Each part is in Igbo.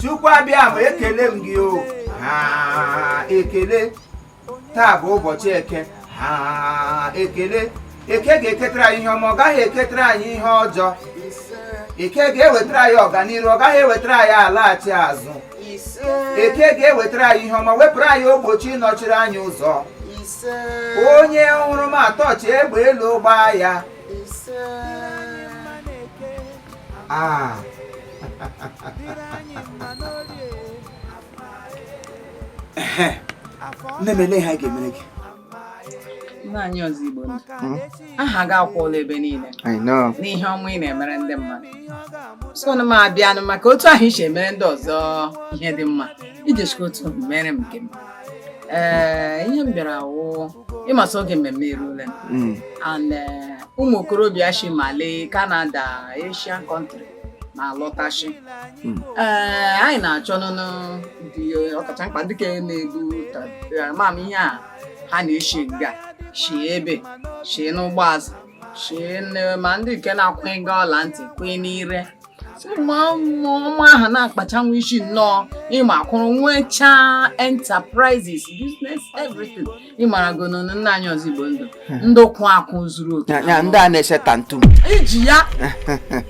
chukwu abịama ekele m gị o ha ekele taa bụ ụbọchị eke ha ekele eke ga-eketara anyị ihe ọma ọ gaghị eketara anyị ihe ọjọọ eke ga-ewetara anyị ọganihu ọ gaghị ewetara anyị alaghachi azụ eke ga-ewetara anyị ihe ọma wepụrụ anyị ogbochi nọchiri anyị ụzọ onye hụrụ m atọchi egbe elu gbaa ya a nne m ele ihe a ga-emere gị nna anyị ọzọ igbo ndụ hmm? aha gị akwụọla ebe niile n'ihe ọma ị na-emere ndị mmadụ so na m abịanụ maka otu ahụ ị si emere ndị ọzọ ihe dị mma i jichikwa otu mere m nke m ee eh, ihe m bịara wụ ị ma sị oge mmemme erule hmm. and eh, ụmụ okorobịa si Mali Canada Asian country na-alọtashi hmm. ee anyị na-achọnụnụ ndị ọkacha mkpa ndị nke na-ebu mam ihe a ha na-eshi nga shie ebe shie n'ụgbọ azụ shie ma ndị nke na-akwụnye nga ọla ntị kwụnye n'ire ụmụ ọma ahụ na-akpacha nwa isi nnọọ ịma akwụrụ nwechaa enterprises business everything ị maragonụ na nna anyị ọzọ igbo ndụ ndị kwụ akwụ zuru oke Ya- ya, ndị a na-ese tattoo i ji ya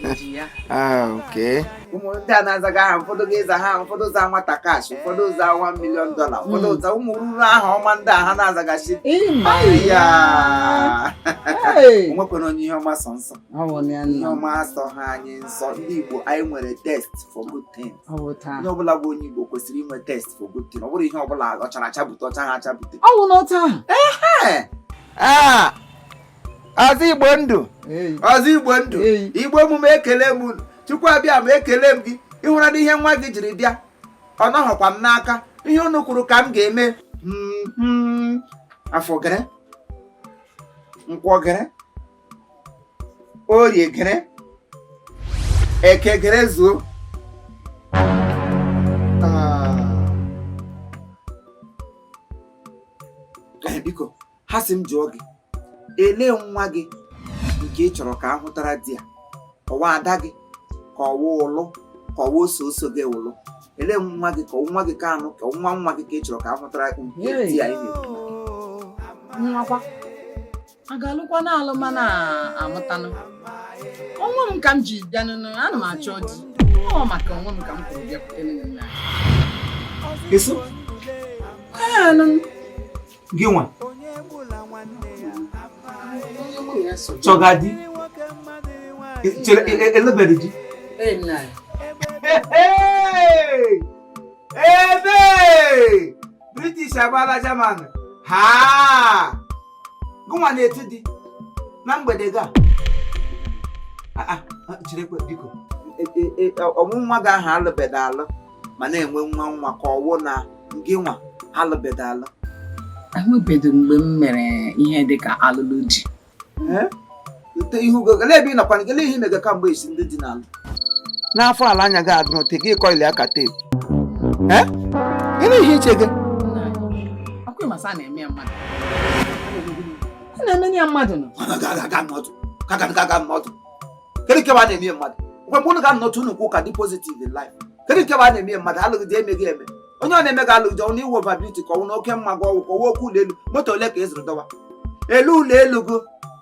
i ji ya Ah, okay. ụmụ ndị a na-azaga aha ụfọdụ ga-aza ha ụfọdụ za nwata cash ụfọdụ za 1 million dollar ụfọdụ za ụmụ ruru aha ọma ndị a ha na-azagachi ị ma ya Hey! o nwekwara onye ihe ọma sọ nsọ Ọ bụ na ya ihe nna m. ọma asọha anyị nsọ ndị igbo anyị nwere taste for good thing onye ọbụla bụ onye Igbo kwesịrị inwe taste for good thing ọ bụrụ ihe ọbụla ọ chara acha bute ọ chaha acha bute ọ bụ n'otu ahụ ọzọ Igbo ndụ ọzọ Igbo ndụ Igbo emume ekele m unu Chukwu Abịama ekele m gị ị hụra na ihe nwa gị jiri bịa ọ nọghọkwa m n'aka ihe unu kwuru ka m ga-eme mm-hmm. afọ gere nkwọ gere orie gere eke gere zuo biko ha sị m jụọ gị ele nwa gị nke ị chọrọ ka a hụtara di ya ọ wụ ada gị ka ọ wụ ụlụ ka ọ wụ oso oso gị ụlụ ele nwa gị ka nwa gị ka anụ ka nwa nwa gị ka ị chọrọ ka a hụtara di ya ihe nwa kwa a ga-alụkwa na alụ mana amụtanụ onwe m ka m ji bịa n'ụlọ ana m achọ di ọ maka onwe m ka m kwuru bịakwute nna eso gị nwa chọga di chere e, e, elebere di ebe british agbala german ha gị nwa na-eti di na mgbede ga chirekwe biko ọ wụ nwa gị ahụ alụbeda alụ ma na-enwe nwa nwa ka ọ wụ na gị nwa alụbeda alụ enwebedị mgbe m mere ihe dịka alụlụ di Ute ihe ugo gele ebe ị nọkwa gele ihe imega kamgbe esi ndị dị n'ala. N'afọ ala anya gị adụrụ te gị kọili aka teepu. Ee? Gịnị ihe iche gị? Ọkụ ịmasa na-eme ya mmadụ. A na-eme ya mmadụ nọ. Mana ga aga n'ọtụ. Ka ga aga n'ọtụ. Kedu nke a na-eme mmadụ? Mgbe mgbe unu ga-anọtụ unu kwuo ka dị positive in life. Kedu nke a na-eme mmadụ alụghị di emeghị eme. Onye ọ na-eme ga alụghị di ọ wụ ị wụ over beauty ka ọ wụ na oke mma gị ọ wụ ka ọ wụ okwu ụlọ elu moto ole ka ị zụrụ dọwa. Elu ụlọ elu gụ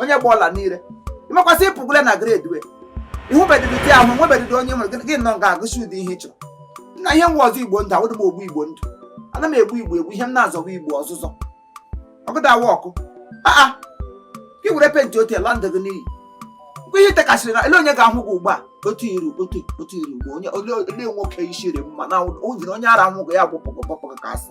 onye gba ọla niile imekwasị ịpụgole na grade wee ịhụbedịdị di ahụ nwebedịdị onye nwere gị nọ nga agụsi ụdị ihe ị chọrọ na ihe nwa ọzọ igbo ndụ awụdị m ogbu igbo ndụ ana m egbu igbo egbu ihe m na-azọba igbo ọzụzọ ọgụda awa ọkụ aa gị were penti otu ala ndụ gị n'iyi mgbe ihe tekasịrị na ele onye ga-ahụ gị ugbu a otu iru otu otu iru ugbo onye ole nwoke isiri mma na ụdịrị onye ara nwụgụ ya bụ pọgọpọgọ ka asị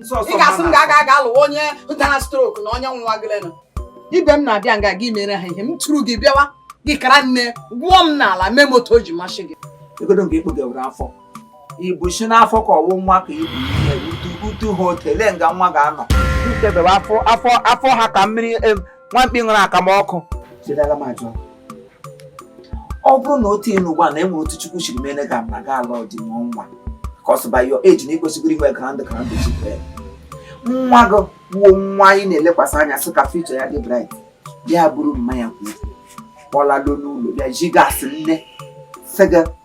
ị ga-asị m ga-aga aga lụwa onye dara stroke na onye nwa gị leenụ ibe m na-abịa nga gị mere ha ihe m tụrụ gị bịawa gị kara nne gwụọ m n'ala mee moto o ji masị gị egodo nke ikpogewere afọ ibu si n'afọ ka ọ wụ nwa ka i bu ihe utu utu ha otele nga nwa ga-anọ afọ afọ ha ka mmiri nwa mkpi ṅụrụ akamụ ọkụ chedara m ajụ ọ bụrụ na otu ị nọ ugbu a na e nwere otu chukwu shiri mere gị na gị alụọ di nwee nwa as by your age na i kwesịgoro inwe grand grand children nwa gị wụ nwa anyị na-elekwasị anya sị ka future ya dị bright bịa buru mmanya kwuru kpọlalo n'ụlọ bịa ji gasị nne fega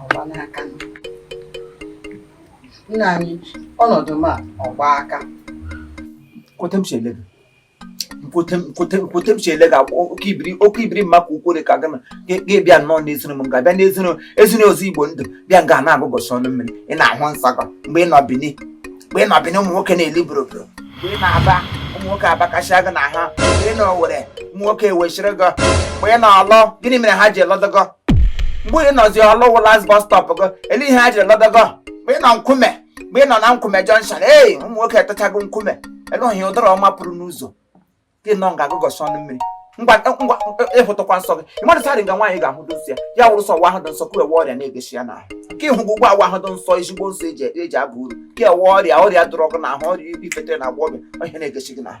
ọgbala aka nna anyị ọnọdụ m a ọgba aka nkwete m si ele gị nkwete m- nkwete m- nkwete m si ele gị agwa oke ibiri oke ibiri mma ka ukwere ka gana gị bịa nnọọ n'ezinụlọ m ga-abịa n'ezinụlọ ezinụlọ ọzọ igbo ndụ bịa nga na-agụgọsị ọnụ mmiri ị na-ahụ nsọ gị mgbe ị nọ bini mgbe ị nọ bini ụmụ nwoke na-eli boroboro mgbe ị nọ aba ụmụ nwoke abakasịa gị n'ahụ mgbe ị nọ owerri ụmụ nwoke ewechiri gị mgbe ị nọ orlu gịnị mere ha ji alụdị gị mgbe ị nọzi ọlụwụ last bus stop gị ele ihe ha jiri lọba gị mgbe ị nọ nkume mgbe ị nọ na nkume junction ee ụmụ nwoke etachago nkume ele ohi ụdara ọma pụrụ n'ụzọ gị nọ nga agụgọsị ọnụ mmiri ngwa ngwa ịhụtụkwa nsọ gị ịmadụ sarị nga nwaanyị ga-ahụ dị nsọ ya ya wụrụ sọ wa ahụ dị nsọ ka ewe ọrịa na-egeshi ya n'ahụ ka ịhụ gị ụgwọ awa ahụ dị nsọ ezigbo nsọ eji eji aba uru ka ewe ọrịa ọrịa dụrụ gị n'ahụ ọrịa i bufetere na agbọghọbịa ọrịa na-egeshi gị n'ahụ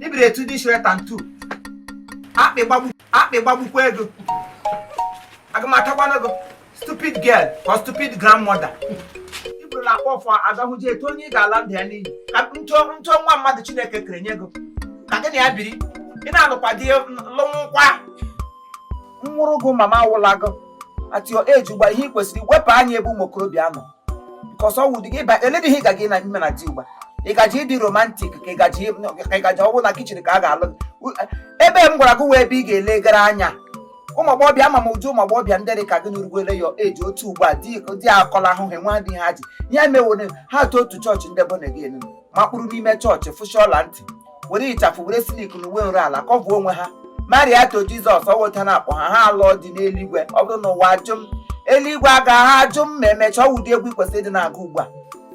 ibiri etu dị shire tantu akpị gbagbukwa ego aga m atakwana ego stupid girl or stupid grandmother iburu na-akpọ ọfọ agahụji etu onye ị ga-ala ndụ ya n'iyi ka nto nwa mmadụ chineke kere nye ego ka gị na ya biri ị na-alụkwa di lụnwụkwa nwụrụ gụ mama awụla gị at your age ugba ihe ị kwesịrị wepụ anya ebe ụmụ okorobịa nọ because ọ wụ dị gị ịba a lady ihe ị gaji na ime na di ugba ị gaji ịdị romantic ka ị gaji ka ị gaji ọ wụ na kitchen ka a ga-alụ gị U- ebe m gwara gị wụ ebe ị ga-elegara anya ụmụ agbọghọbịa ama m ụdị ụmụ agbọghọbịa ndị dị ka gị n'urugwele ya eji otu ugbu a di di akọla ahụ ha nwa dị ha ji ya mewone ha tụ otu chọọchị ndị bụ na gị enu makpuru n'ime chọọchị fụsha ọla ntị were ịchafụ were silk na uwe nru ala kọvuo onwe ha married to Jesus ọ wụ otu a na-akpọ ha ha alụọ di n'eluigwe ọ bụrụ na ụwa ajụ m eluigwe agaha ajụ m ma emechaa ọ wụ ụdị egwu i kwesịrị ịdị na-agụ ugbu a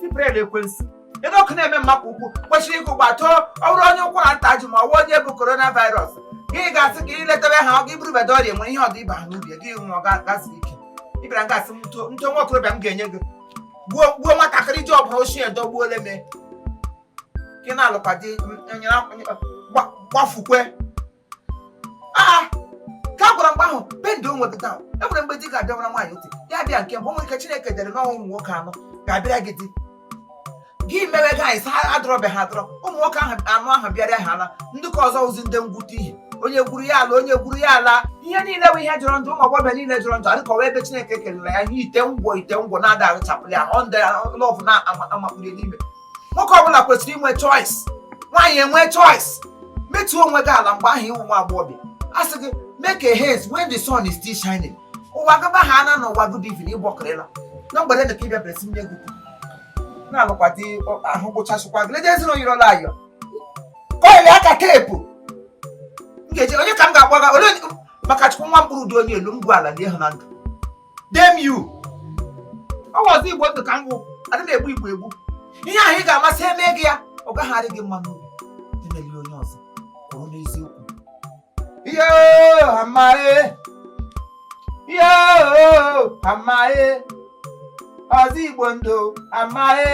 tiprel ekwensu ebe ọkụ na-eme mma ka ukwe kwesịrị ịgụ ugba too ọ bụrụ onye ụkwara nta ji ma ọ bụ onye bu coronavirus gị ga-asị ka iletebe ha ọ gị burubeda ọrịa nwere ihe ọdụ ịba ha n'ubi gị hụ ọ gazi ike ịbịara gasị m nto nwa okorobịa m ga-enye gị gbuo gbuo nwatakịrị ji ọbụla ochie dọgbuole me gị na-alụkwa di gbafukwe aa ka a gwara mgbe ahụ bendị onwe gị taa e nwere mgbe di ga-abịawara nwaanyị ntị ya bịa nke mbụ nwere ike chineke dere na ọ wụ ụmụ nwoke anọ ga-abịara gị di gị mewe gị anyị sa adọrọbe ha adọrọ ụmụ nwoke ahụ anọ ahụ bịara ha ala ndị ka ọzọ wụzi ndị ngwute ihe onye gwuru ya ala onye gwuru ya ala ihe niile bụ ihe jọrọ njọ ụmụ agbọghọbịa niile jọrọ njọ adịka ọ wụ ebe chineke kelere ya ihe ite ngwọ ite ngwọ na-ada arụchapụrụ ya ọ ndị love na-amakpuru n'ime nwoke ọbụla kwesịrị inwe choice nwaanyị enwe choice wetuo onwe gị ala mgbe ahụ ị wụ nwa agbọghọbịa a sị gị make a haste when the sun is still shining ụwa gaba ha ana na ụwa good evening ịgbọkịrịla na mgbede na ka ịbịa bịara si nye gị na-alụkwa di ahụ gwụchasịkwa gị leje ezinụlọ yiri ọla ayọ kọịlị aka teepu m ga-eji onye ka m ga-agbaga ole maka chukwu nwa mkpụrụ dị onye elu m gwu ala dị ịhụ na ndụ damn you ọzọ igbo ndụ ka m wụ adị m egbu igbo egbu ihe ahụ ị ga-ama sị e mee gị ya ọ gaghị adị gị mma n'obi emele onye ọzọ kwụrụ n'eziokwu ihe amaghị ihe amaghị ọzọ igbo ndụ amaghị